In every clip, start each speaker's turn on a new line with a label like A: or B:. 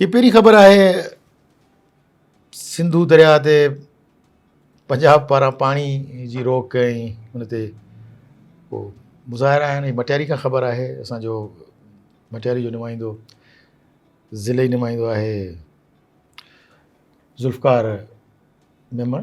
A: هي پهرين خبر آهي سنڌو درياء تي پنجاب پاران پاڻي جي روڪ ۽ ان تي ڪو مظاهرا آهن هي مٽياري کان خبر آهي اسانجو مٽياري جو نمائندو ضلعي نمائندو آهي ذوالفقار ميمڻ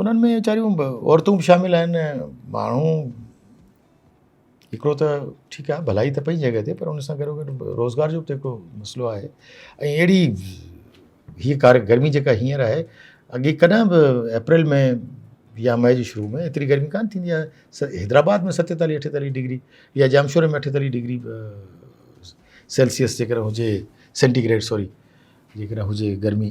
A: انهن ۾ ويچاريون عورتون به شامل آهن ۽ ماڻهو هڪڙو ته ٺيڪ آهي ڀلائي ته پنهنجي جڳهه تي پر ان سان گڏو گڏ روزگار جو به هڪڙو مسئلو آهي ۽ اهڙي هيء ڪار گرمي جيڪا هينئر آهي اڳي ڪڏهن به اپريل ۾ يا مئي جي شروع ۾ ايتري گرمي ڪانه ٿيندي آهي حيدرآباد ۾ ستيتاليهه اٺيتاليهه ڊگري يا ڄامشوري ۾ اٺيتاليهه ڊگري سيلسيس جيڪڏهن هجي سينٽيگريڊ سوري جيڪڏهن هجي گرمي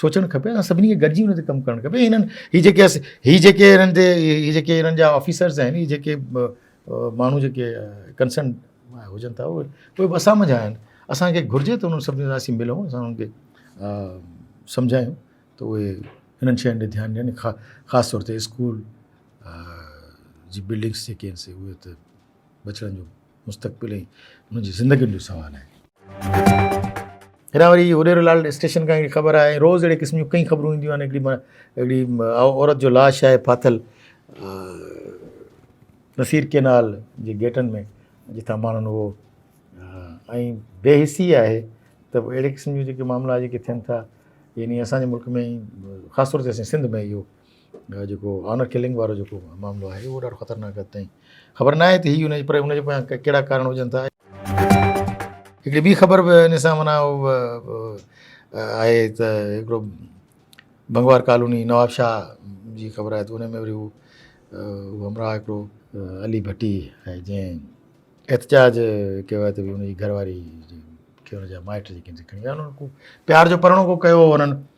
A: سوچڻ کپي اسان سڀني کي گڏجي ان تي ڪم ڪرڻ کپي هنن هي جيڪي هي جيڪي هنن تي هي جيڪي هنن جا آفيسرز آهن هي جيڪي ماڻهو جيڪي ڪنسرن هجن ٿا اهي اهي به اسان منجهان آهن اسانکي گهرجي ته انهن سڀني سان اسين ملون اسان انهن کي سمجهايون ته اهي هنن شين ڏي ڌيان ڏين خاص طور تي اسڪول جي بلڊنگس جيڪي آهن سي اهي ته بچڻ جو مستقبل ۽ انهن جي زندگين جو سوال آهي. هيڏانهن وري هڏيرو لال اسٽيشن کان هڪڙي خبر آئي ۽ روز اهڙي قسم جون ڪئين خبرون اينديون آهن. هڪڙي هڪڙي عورت جو لاش آهي ڦاٿل نصير ڪينال جي گيٽن ۾ جتان ماڻهن اهو ۽ بي حسي آهي ته اهڙي قسم جون جيڪي معاملا جيڪي ٿين ٿا يعني اسان جي ملڪ ۾ خاص طور تي اسان جي سنڌ ۾ اهو ھا جيڪو آنر ڪلنگ وارو جيڪو معاملو آھي اھو ڏاڍو خطرناڪ حد تائين خبر ناھي تھ ھي انھيء پر انھيء جي پويان ڪھڙا ڪارڻ ھجن ٿا. ھڪڙي ٻي خبر بھ ان سان معنيٰ آھي تھ ھڪڙو بنگوار ڪالوني نوابشاھھ جي خبر آھي تھ ان ۾ وري ھو ھمراھھ ھڪڙو علي ڀٽي آھي جنھن احتجاج ڪيو آھي تھ ان جي گھر واري کي ان جا مائٽ جيڪي آھن سي کڻي ويا آھن انھن کي پيار جو پرڻو ڪو ڪيو ھو انھن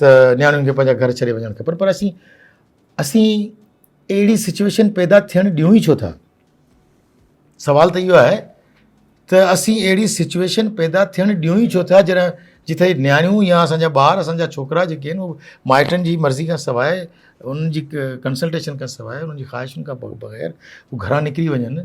A: ته نياڻين کي پنهنجا گهر ڇڏي وڃڻ کپن پر اسين اسين اهڙي سچويشن پيدا ٿيڻ ڏيون ئي ڇو ٿا سوال ته اهو آهي ته اسين اهڙي سچويشن پيدا ٿيڻ ڏيون ئي ڇو ٿا جڏهن جتي نياڻيون يا اسانجا ٻار اسانجا ڇوڪرا جيڪي آهن اهو مائٽن جي مرضي کان سواء انهن جي ڪنسلٽيشن کان سواء انهن جي خواهشن کان بغير هو گهران نڪري وڃن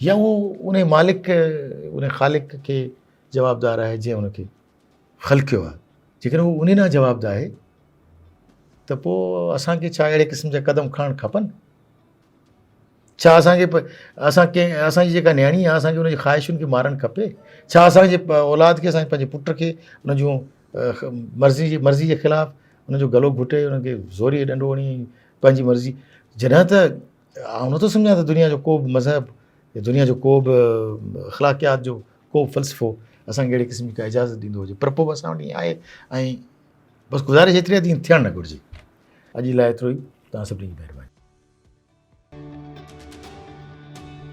A: يا هو انهي مالڪ کي انهي خالق کي جوابدار آهي جنهن ان کي خلقيو آهي جيڪڏهن هو انهي نا جواب ده آهي ته پوء اسان کي ڇا اهڙي قسم جا قدم کڻڻ کپن ڇا اسانکي اسان کي اسان جي جيڪا نياڻي آهي اسان کي انهي خواهشن کي مارڻ کپي ڇا اسان جي اولاد کي اسان پنهنجي پٽ کي ان جون مرضي جي مرضي جي خلاف ان جو گلو گهٽي ان کي زوري ڏنڊو هڻي پنهنجي مرضي جڏهن ته آئون نٿو سمجهان ته دنيا جو ڪو به مذهب يا دنيا جو ڪو به اخلاقيات جو ڪو فلسفو اسان کي اهڙي قسم جي اجازت ڏيندو هجي پر پوء به اسان وٽ ائين آهي ۽ بس گذارش ايتري آهي ته ائين ٿيڻ نه گهرجي اڄ لاء ايترو ئي توهان سڀني جي مهرباني